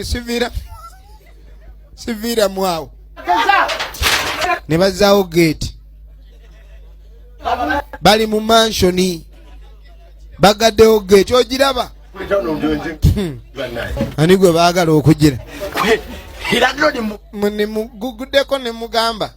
sivira sivira mwawo ne bazaawo geeti bali mu mansioni bagaddewo geeti ogiraba hmm. ani gwe baagala okugira nemuguguddeko nemugamba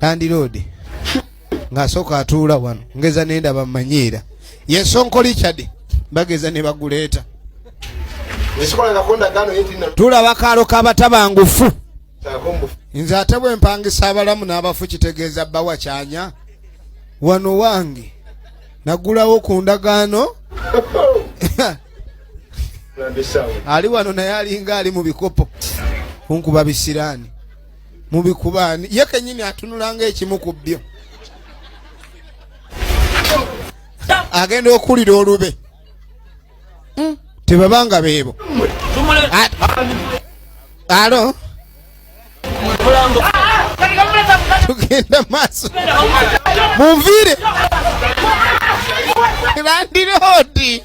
landiroodi ng'asooka atuula wano ngeza nendaba mmanyiira yesonkoli cadi bageza ne baguleeta tulaba kaalo kabatabangufu nze ate bwe mpangisa abalamu n'abafu kitegeeza bbawa kyanya wano wange nagulawo ku ndagaano ali wano naye alinga ali mu bikopo kunkuba bisiraani mubikubaani ye kenyini atunulanga ekimu ku byo agenda okuwulira olube hmm? tebabanga beebo alo tugenda maaso munviire landiroodi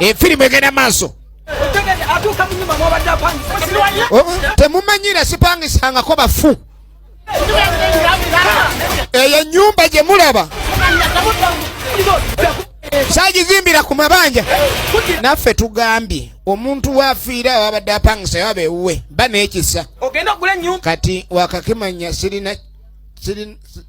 efirimu egenda maaso oh, temumanyira sipangisangako bafu eyo enyumba gye mulaba sagizimbira ku mabanja naffe tugambye omuntu wafiira wabadde apangisa waba ewuwe ba nekisa kati wakakimanya sirina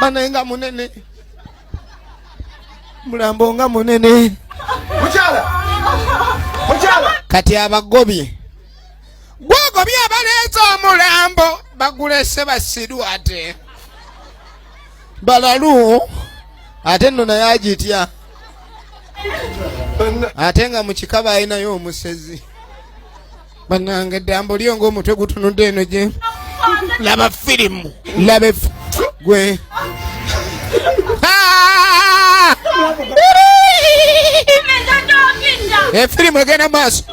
banaye nga munene mulambo nga munene mukyala mukyala kati abagobye gwogobye abaleeta omulambo bagulese basiru ate balalu ate nno naye agitya ate nga mukikaba alinayo omusezi banange dambo lyo ngaomutwe gutunudde eno gye laba firimu laba gwe efirimu egenda maaso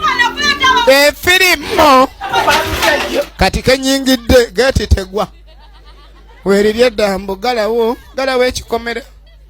efirimu kati kenyingidde gati tegwa werirye dambo galawo galawo ekikomera